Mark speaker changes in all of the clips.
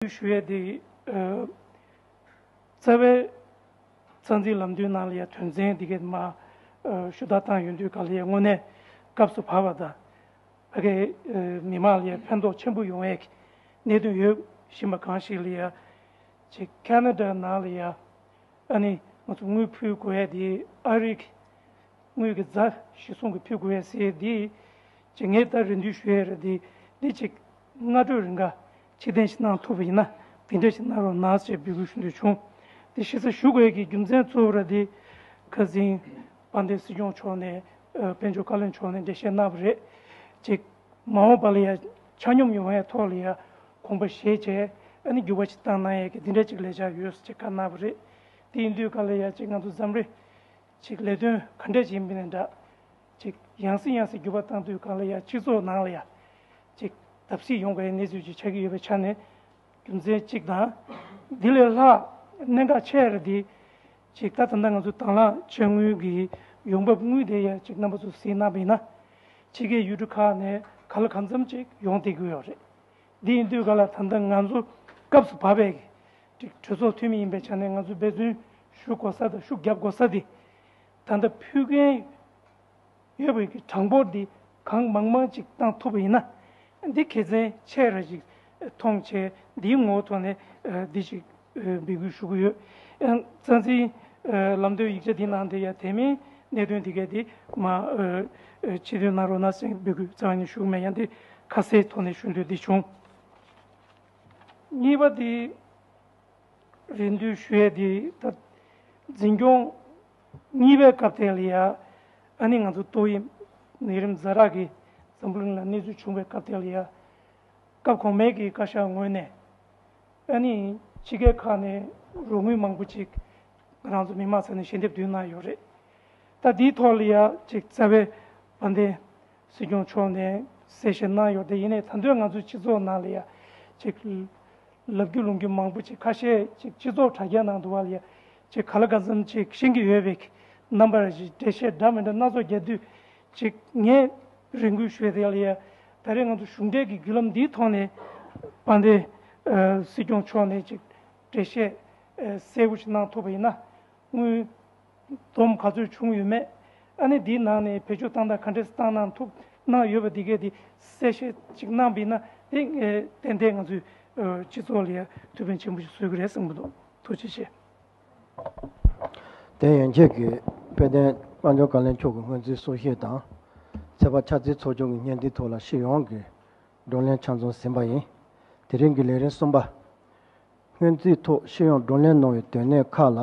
Speaker 1: ཞུ་ཞུ་ཡས་དེ། རྩ་བའི། རྩ་འཛིན་ལམ་སྟོན་ནང་ལ་ཡ་དོན་ཚན་འདི་གའི་མ། ཞུ་དག་བཏང་ཡོད་འདུག་ག་ལ་ཡའི་དངོས་གནས་སྐབས་སུ་བབ་པ་དང། ཕ་གའི། མི་དམངས་ལ་ཡའི་ཕན་ཐོགས་ཆེན་པོ་ཡོང་བའི། གནད་དོན་ཡོད་བཞིན་པ་གང་ཞིག་ལ་ཡ། ཅེ། Canada ནང་ལ་ཡ། ཨ་ནི། ང་ཚོ་དངུལ་ཕུལ་དགོས་ཡས་དེ། ཨ་རིག། དངུལ་གྱི་རྫ། ཞིག་སོང་གི་ཕུལ་དགོས་ཡས་ཟེར་ཡས་དེ། ཅེ། ངས་ད་རེ་འདུས་ཞུ་ཡས་རེད་དེ། འདི་ཅེ། སྔ་དྲོའི་རེ་འགའ། ཕྱིར་འཐེན་ཞིག་གནང་ཐུབ་པ་ཡིན་ན་དེ་འབྲེལ་ཞིག་གནང་རོགས་གནང་ཞེས་འབོད་སྐུལ་ཞུ་འདོད་བྱུང། དེ་ཤེས་ས་ཞུ་དགོས་ཀྱི་རྒྱུ་མཚན་གཙོ་བོ་ར་ལྡི་ཁཱ་ཟིན་པཱ་འདེ་སྲིད་སྐྱོང་མཆོག་ནས་དཔལ་འབྱོར་བཀའ་བློན་མཆོག་ནས་འགྲེལ་བཤད་གནང་བ་རེད། གཅིག། མ་འོངས་པ་ལ་ཡ་ཆ་སྙོམས་ཡོང་ཡའི་ཐོག་ལ་ཡ་གོང་པ་བཞེས་བྱས་ཨ་ནི་འགྱུར་བ་ཅིག་བཏང་གནང་ཡས་ཀྱི་འདི་འདྲ་ཅིག་ལས་ཆ་ཡོད་ཅེས་བཀའ་གནང་བ་རེད། དེ་ཡིན་དུས་ག་ལ་ཡ་ཅིག་ང་ཚོ་འཛམ་རེ་ཅིག་ལས་དོན་ག་འདྲས་བྱེད་མིན་ལས་འདྲ། ཅིག། ཡང་སྲིད་ཡང་སྲིད་བརྒྱུད་པ་དང་དུས་གང་ལ་ཡང་སྤྱི་ཚོགས་ནང་ལ་ཡང། ཅིག། བརྡབ་གསིག་ཡོང་དཀའི་གནས་ཚུལ་ཅིག་ཆགས་ཀྱི་ཡོད་པའི་ཆ་ནས། རྒྱུ་མཚན་གཅིག་དང། དེ་ལས་ལྷག་གནད་འགག་ཆེ་རེ་འདི། ཅིག། ད་ད་ང་ཚོ་དྭང་བླངས་བྱ་དངུལ་གྱི་ཡོང་འབབ་དངུལ་དེ་ཡང་ཅིག་རྣམ་པ་ཚོ་སེལ་གནང་བས་ན། ཕྱི་ཁའི་ཡུལ་གྲུ་ཁག་ནས་ག་ལ་གང་འཚམ་ཅིག་ཡོང་སྡད་ཀྱི་ཡོད་རེད། འདི་ཡིན་དུས་ག་ལ་ད་ལྟ་ང་ཚོ་སྐབས་སུ་བབས་པས། ཅིག། གྲོས་ཚོགས་འཐུས་མི་ཡིན་པའི་ཆ་ནས་ང་ཚོས་འབད་བརྩོན་ཞུ་དགོས་ས་དང་ཤུགས་རྒྱབ་དགོས་ས་དེ། ད་ལྟ་ཕུལ་མཁན་ཡོད་པའི་གི་གྲངས་འབོར་འདི་གང་མང་མང་ཅིག་བཏང་ཐུབ་པ་ཡིན་ན། འདི་གལ་ཆེན་ཆེ་ར་ཅིག་མཐོང་བྱས་འདིའི་ངོ་ཐོག་ནས་འདི་ཅིག་འབད་སྐུལ་ཞུ་གི་ཡོད། རྩ་འཛིན། ལམ་སྟོན་ཡིག་ཆ་འདི་ནང་དེ་ཡང་དེ་མིན་གནད་དོན་འདི་གས་འདི་མ་ཕྱི་དོན་གནང་རོགས་གནང་སེང་འབད་སྐུལ་རྩ་བ་ནས་ཞུ་གི་མེད་ཡང་འདི་ཁ་གསལ་ཐོག་ནས་ཞུ་འདོད་འདི་བྱུང། གཉིས་པ་འདི། རེ་འདུན་ཞུ་ཡས་དེ་ལྟར། འཛིན་སྐྱོང། གཉིས་པའི་སྐབས་ཐེངས་ལ་ཡ། ཨ་ནི་ང་ཚོ་ཏོག་དབྱིབས་ནད་རིམས་རྫ་རག་གིས་འཛམ་བུ་གླིང་ལ་གནས་ཚུལ་བྱུང་བའི་སྐབས་ཐེངས་ལ་ཡ། སྐབས་གོང་མའི་གི་བཀའ་ཤག་ངོས་ནས། ཨ་ནི་ཕྱི་རྒྱལ་ཁག་ནས་རོགས་དངུལ་མང་པོ་ཅིག་ང་རང་ཚོ་མི་དམངས་ས་ནས་ཞལ་འདེབས་བསྡུས་གནང་ཡོད་རེད། ད་དེའི་ཐོག་ལ་ཡ་ཅིག་རྩ་བའི་བ་དན། སྲིད་སྐྱོང་མཆོག་ནས་གསལ་བཤད་གནང་ཡོད་དེ་ཡིན་ནས་ད་འདོད་ང་ཚོའི་སྤྱི་ཚོགས་ནང་ལ་ཡ་ཅིག་ལབ་རྒྱུ་ལུང་རྒྱུ་མང་པོ་ཅིག་ཁ་ཤས་ཅིག་སྤྱི་ཚོགས་དྲ་རྒྱ་ནང་དུ་བ་ལ་ཡ་ཅིག་ག་ལ་ག་ཙམ་ཅིག་ཤེས་ཀྱི་ཡོད་པའི་རྣམ་པར་འགྲེལ་བཤད་འདྲ་མི་འདྲ་སྣ་ཚོགས་རྒྱག་དུས་ཅིག་ངས་རེ་འགུལ་ཞུས་དེ་ལ་ཡ་ད་རེས་ང་ཚོ་གཞུང་འབྲེལ་གྱི་བརྒྱུད་ལམ་འདིའི་ཐོག་ནས་པ་འདི་སྲིད་སྐྱོང་མཆོག་ནས་ཅིག་འགྲེལ་བཤད་གསལ་བོ་ཞིག་གནང་ཐུབ་པ་ཡིན་ན་དངུལ་སྡོམ་ག་ཚོད་བྱུང་ཡོད་མེད། ཨ་ནི་འདིའི་ནང་ནས་བེད་སྤྱོད་སྟངས་དང་ག་འདྲའི་སྟངས་གནང་ཐུབ་གནང་ཡོད་པ་འདི་གའི་དེ་གསལ་བཤད་ཅིག་གནང་འབིས་ན་དེ་ཏན་ཏན་ང་ཚོའི་སྤྱི་ཚོགས་ལ་ཡ་དུས་ཕན་ཆེན་པོ་ཞིག་བཟོས་གི་རེད་བསམ་གི་འདུག་ཐུགས་རྗེ་ཆེ།
Speaker 2: དེ་ཡན་ཆད་ཀྱི་དཔལ་ལྡན་དཔའ་འབྱོར་བཀའ་ལན་མཆོག་གི་སྔོན་རྩིས་གསུང་བཤད་དང་ཚད་པ་ཆ་རྩིས་ཚོགས་ཆུང་གི་བརྙན་འདིའི་ཐོག་ལ་ཤེས་ཡོང་གི་བགྲོ་གླེང་ཆ་འཛོམས་ཟིན་པ་ཡིན། དེ་རིང་གི་ལས་རིམ་གསུམ་པ། སྔོན་རྩིས་ཐོག་ཤེས་ཡོང་བགྲོ་གླེང་གནང་བའི་དོན་གནད་ཁག་ལ།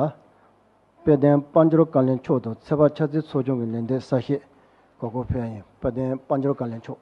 Speaker 2: དཔལ་ལྡན་དཔའ་འབྱོར་བཀའ་ལན་མཆོག་དང་ཚེ་དཔག་ཕྱག་འཚལ་ཚོགས་ཆུང་གི་ལས་འདས་གསར་བཞེས། གོ་གོ་ཕེ་ཨན་དཔལ་ལྡན་དཔའ་འབྱོར་བཀའ་ལན་མཆོག།